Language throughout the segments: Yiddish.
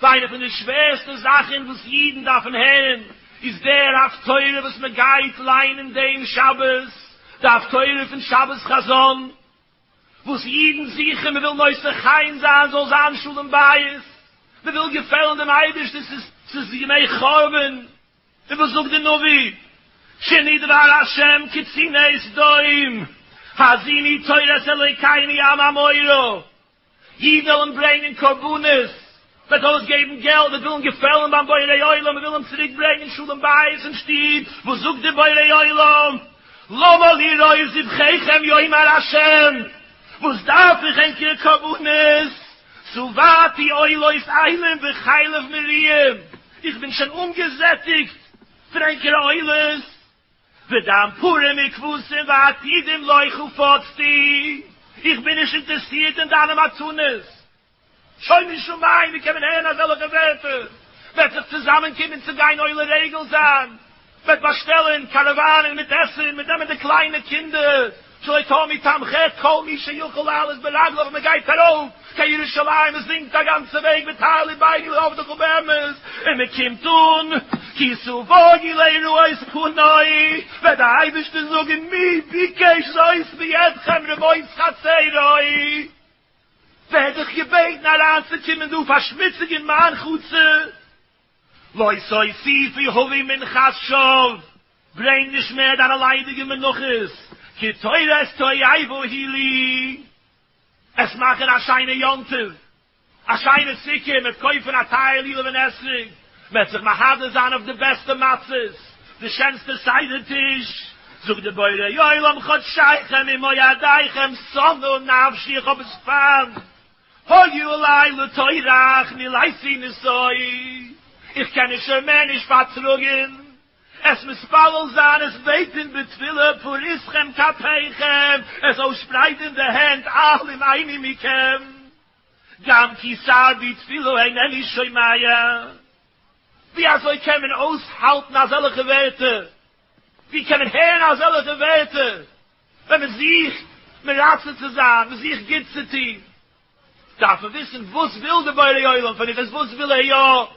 ווייל איינע פון די שווערסטע זאכן וואס אידן דארפן הערן איז דער הפטורה וואס מען גייט ליינען דעם שבת, די הפטורה פון שבת חזון, וואס אידן זוכן, מען וויל נושא חן זיין, זאל זיין שלום בית, מען וויל געפעלן דעם אייבערשטן, ס'איז ס'איז ימי חורבן, און וואס זאגט די נביא, שנדבר השם כציני סדום, האזיני תורת אלוקינו עם עמורו. די ווילן ברענגען קרבנות, וועט אויסגעבן געלט, וועט ווילן געפעלן ביים בורא עולם, וועט ווילן צוריק ברענגען שלום בית אין שטוב, וואס זאגט דער בורא עולם, למה לי רוב זבחיכם יאמר השם, וואס דארף איך ענקערע קרבנות, שבעתי עולות עלים וחלב מרים, איך בין שוין אנגעזעטיגט פון ענקערע עולות. ודם פרים און כבשים ועתידים לך ופצתי, איך בין נישט אינטערסירט אין דיינע מתנות, שוים משמים, ווי קען מען הערן אזעלכע ווערטער, וועט זיך צוזאמען קומען צו גיין עולה רגל זיין, מען וועט באשטעלן קאראוואנען מיט עסן, מיט נעמען די קליינע קינדער, צאתו מתמחה את כל מי שיכול לעלות ברגליו מען גייט ארויף קיין ירושלים מען זינגט א גאנצע וועג בתהלים ביני לעבדך ובאמת און מען קומט אן כי סובהי לראות פני וועט די אייבערשטער זאגן מי ביקש זאת מידכם רמוס חצרו ווער דיך געבעטן אריינצוקומען דא פארשמוציגן מיין חצר לא ששי פי הווי מנחת שוב. ברענג נישט מער דיינע ליידיגע מנחות, כי תורת תועבה היא לי, עס מאכן א שיינע יום טוב, א שיינע סוכה, מען וועט קויפן א טייער לולב און אתרוג, מען וועט זיך מהדר זיין אויף די בעסטע מצות, די שענסטע סדר טיש, זאגט דער בורא עולם חודשייכם ומועדיכם שנוא נפשי איך האב עס פאן, הוי אלי לא תורך מילאיסי נשאי, איך קען עס שוין מער נישט פארטראגן. עס מתפלל זיין, עס בעטען בתפילה פאר איסכם כפיכם, עס אויסשפרייטען די הענט אל אם איני מכם, גם כי סרבי תפילה אינני שומע, ווי אזוי קען מען אויסהאלטען אזעלכע ווערטער, ווי קען מען הערען אזעלכע ווערטער, ווען מען זוכט מרצה צו זיין, מען זוכט גוטס צו טוהן, דארף מען וויסען וואס וויל די בורא עולם פון אונז, וואס וויל ער יא.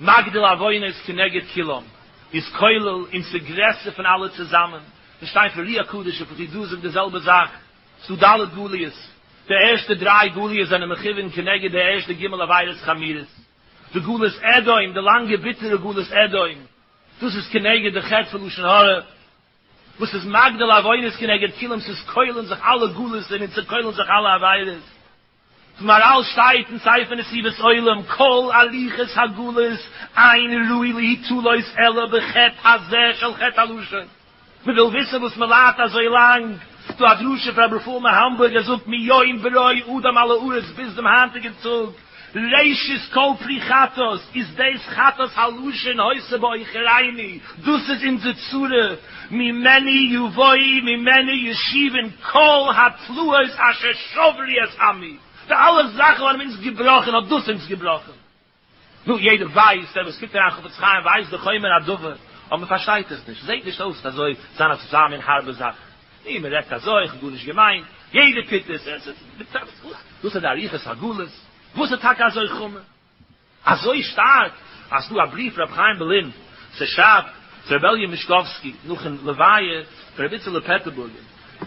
מגדיל עוונות כנגד כולם איז כולל, און ס'איז גרעסער פון אלע צוזאמען, ס'איז שטיין פון רי הקדוש אויף וכדו' זאגט די זעלבע זאך, ס'דא ד' גליות, די ערשטע דריי גליות זענען מכוון כנגד די ערשטע ג' עבירות חמירות, די גלות אדום, די לאנגע ביטערע גלות אדום, דאס איז כנגד די חטא פון לשון הרע, וואס איז מגדיל עוונות כנגד כולם, ס'איז כולל אין זיך אלע גלות און אין צעקוילן זיך אלע עבירות. גמרא שטייט אין ספר נסיבות עולם, כל הליכות הגלות אין ראוי להתעלות אלא בחטא הזה של חטא הלשון. מ'וויל וויסן וואס מ'ליידט אזוי לאנג, ס'דא א דרשה פון רבי רפאל מהאמבורג, ער זאגט מיום ברא אדם על הארץ ביז דעם היינטיגן טאג, ראשית כל פרי חטאת איז דאס חטאת הלשון העושה בעוכרינו, דאס איז אונזער צורה, ממני יבואי ממני ישיבון כל התלאות אשר שוב לי את עמי, די אלע זאכן האבן אונז געבראכן, האט דאס אונז געבראכן. נו, יעדער ווייסט, דער וואס קוקט אריין אין חפץ חיים ווייסט די חומר הדבר, אבער מען פארשטייט עס נישט, זעט נישט אויס אזוי זיין א טוטאל מין הארבע זאך, נו, מען רעדט אזוי, איך האב גארנישט געמיינט, יעדער טוט עס, דאס איז די אריכות הגלות, וואס איז טאקע אזוי חמור? אזוי שטארק אז ס'דא א בריוו פון רבי חיים בערלין ס'שרייבט צו רבי אלי' מישקאווסקי נאכן לוויה פון רבי איצעלע פעטערבורגער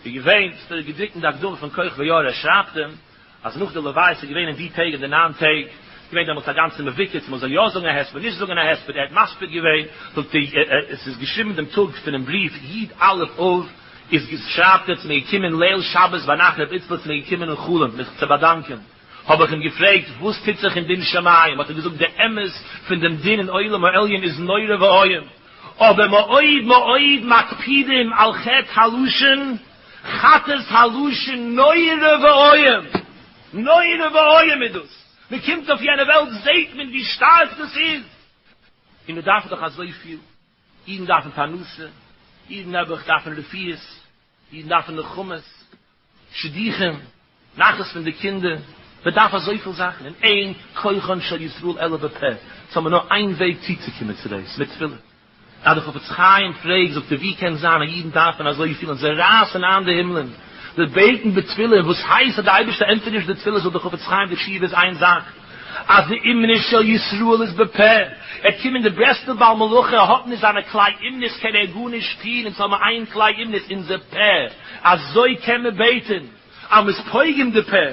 איז געווען ס'דא געדרוקט אין די הקדמה פון כח ויאור ער שרייבט אים אז נאך די לוויה ס'איז געווען אין די טעג אין די ניין טעג געווען דעמאלטס א גאנצע מבוקר צו מ'זאל יא זאגן א הספד נישט זאגן א הספד ער האט מספיד געווען זאגט ער עס איז געשריבן דעם טאג פונעם בריוו י ד א' אב איז שרייבט ער ס'מיר געקומען ליל שבת ביינאכט רבי איצל ס'מיר געקומען אין חלום מיך צו באדאנקען האב איך אים געפרעגט וואס טוט זיך אין דין שמים, האט ער געזאגט די אמת פון דעם דין אין עולם העליון איז נורא ואיום, אבער מאוד מאוד מקפידים על חטא הלשון, חטאת הלשון נורא ואיום, נורא ואיום איז דאס, מען קומט אויף יענע וועלט זעט מען ווי שטארק דאס איז, און מען דארף דאך אזויפיל, אידן דארפן פרנסה, אידן נעבעך דארפן רפואות, אידן דארפן נחמות, שידוכים, נחת פון די קינדער, מען דארף אזויפיל זאכן, און אין כוחן של ישראל אלא בפה, ס'האט מען נאר איין וועג צוצוקומען צו דאס, מיט תפילה. אז די חפץ חיים פרעגט זאגט ער ווי קען זיין אז אידן דארפן אזויפיל און זיי רייסן איין די הימלען, זיי בעטן בתפילה, וואס הייסט אז די אייבערשטער ענטפערט נישט די תפילות אויף די חפץ חיים די תשובה איז איין זאך, אז די אמונה של ישראל איז בפה, ער קומט די ברסלב בעל מלאכה ער האט נישט זיינע כלי אמונות קען ער גארנישט טוהן אונז האבן איין כלי אמונות אונזער פה אזוי קען מען בעטען אז מ'איז פוגם די פה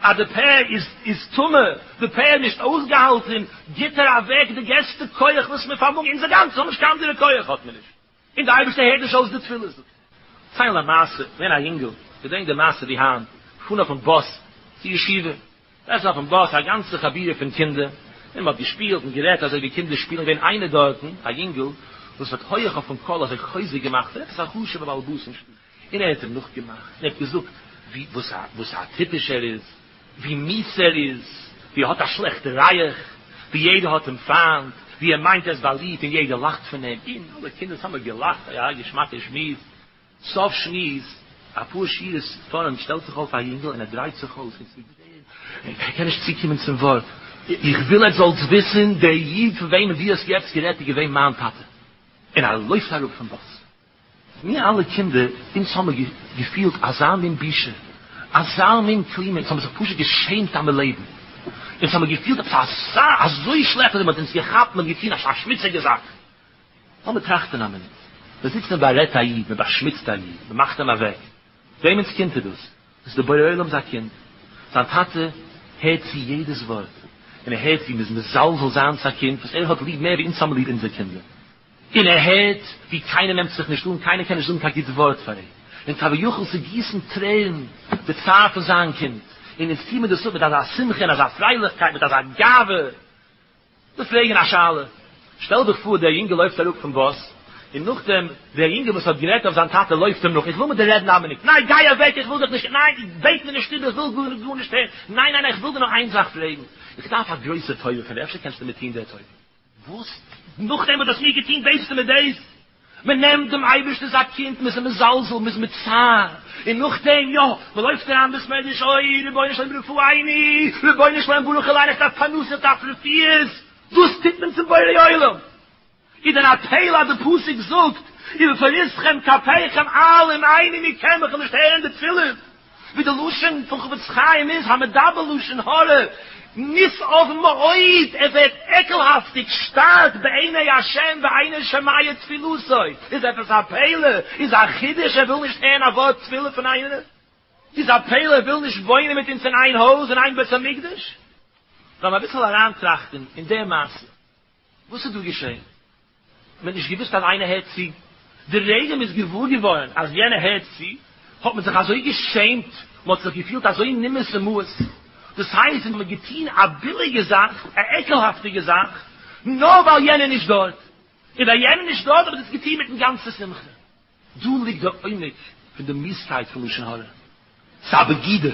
אז די פה איז איז טמא די פה איז נישט אויסגעהאלטען גיבט ער אוועק די געסטע כח וואס מיר פארמאגן אונזער גאנצע האבן נישט קיין אנדערע כח האט מען נישט. און דער אייבערשטער הערט נישט אויס די תפילות, זאגט ער. ציין א מעשה, געווען א יונגל, געדענק די מעשה ווי היינט, געפארן אויפן באס צו ישיבה, דארטן אויפן באס א גאנצע חבורה פון קינדער, און מען האט געשפילט און גערעדט אזוי ווי קינדער שפילן, געווען איינער דארטן א יונגל וואס האט הויעך אויפן קול אזוי חוזק געמאכט, עפעס א חשוב'ער בעל באס אין שטאט. און ער האט אים נאכגעמאכט, און ער האט געזאגט וואס א טיפש ער איז, ווי מיס ער איז, ווי ער האט א שלעכטע רייעך, ווי יעדער האט אים פיינט, ווי ער מיינט ער איז באליבט און יעדער לאכט פון אים, און אלע קינדער האבן געלאכט, אוי א געשמאקע שמועס, סוף שמועס, אפאר שורות פארנט שטעלט זיך אויף א יונגעל און ער דרייט זיך אויס און צו דרען, און ער קען נישט צוקומען צום ווארט, איך וויל עטס זאלטס וויסן, דער איד פון וועמען דו האסט יעצט גערעדט איז געווען מיין טאטע, און ער לויפט אראפ פון באס. מיר אלע קינדער, אונז האמיר געפילט אזא מין בושה, אזא מין כלימה, אונז האמיר זיך פשוט געשעמט אז מיר לעבן, אונז האמיר געפילט עפעס אזא, אזוי שלעכט אזוי מען האט אונז געכאפט, מען האט געטון אזא שמוציגע זאך. לאמיר טראכטען א מינוט, מען זיצט מען בארעדט א איד, מען באשמוצט א איד, מען מאכט אים אוועק, וועמענס קינד איז דאס? דאס איז דער בורא עולם'ס א קינד, זיין טאטע הערט צו יעדעס ווארט, און ער הערט ווי מען איז מזלזל זיינס א קינד וואס ער האט ליב מער ווי אונז האמיר ליב אונזער קינדער. און ער הערט ווי קיינער נעמט זיך נישט אן, קיינער קען נישט זאגן קיין גוט ווארט פאר אים, און כביכול ס'גיסן טרערן די צער פון זיין קינד, און אונז טוה מיר דאס אפ מיט אזא שמחה און אזא פרייליכקייט, מיט אזא גאווה. וויל פרעגן א שאלה, שטעל דיך פאר דער יונגעל לויפט אראפ פון באס, און נאכדעם דער יונגעל וואס האט גערעדט אויף זיין טאטע לויפט אים נאך, איך וויל מיט דיר רעדן איין מינוט, ניין גיי אוועק איך וויל דיך נישט, ניין בעט מיר נישט איבער איך וויל גארנישט הערן, ניין ניין איך וויל דיר נאר איין זאך פרעגן, איך דארף א גרויסע טובה פון דיר, אפשר קענסטו מיר טון דער טובה. וואס? נאכדעם וואס דו האסט מיר געטון דאס און מיט דאס? מען נעמט דעם אייבערשטענ'ס א קינד, מען איז אים מזלזל, מען איז מיט צער, און נאכדעם יא, מען לויפט אריין בית מדרש, אוי רבונו של עולם רפאיני, רבונו של עולם ברוך אליין איך דארף פרנסה, איך דארף רפואות, דאס טוט מען צום בורא עולם? איז דען א פלא אז די פסוק זאגט ובפריסכם כפיכם אל אם עיני מקח, איך וויל נישט הערן די תפילות. ווי די לשון פון חפץ חיים איז, המדבר לשון הרע, נשאב מאוד, ער ווערט עקלהאפטיג שטארק בעיני השם ואינו שומע תפילתו, איז עפעס א פלא? איז א חידוש ער וויל נישט הערן א ווארט תפילה פון איינעם? איז א פלא ער וויל נישט וואוינען מיט אונז אין איין הויז אין איין בית המקדש? לאמיר אביסל אריינטראכטן אין די מעשה, וואס איז דא געשען? מען האט נישט געוואוסט אז איינער הערט צו, די רגע מען איז געוואר געווארן אז יענער הערט צו האט מען זיך אזוי געשעמט, מען האט זיך געפילט אזוי נימאס ומאוס, דאס הייסט ווען מען האט געטון א ביליגע זאך, א עקלהאפטיגע זאך, נאר ווייל יענער איז נישט דארט, און ווייל יענער איז נישט דארט האב איך דאס געטון מיטן גאנצע שמחה. דא ליגט די עומק פון די מיסקייט פון לשון הרע, ס'איז א בגידה.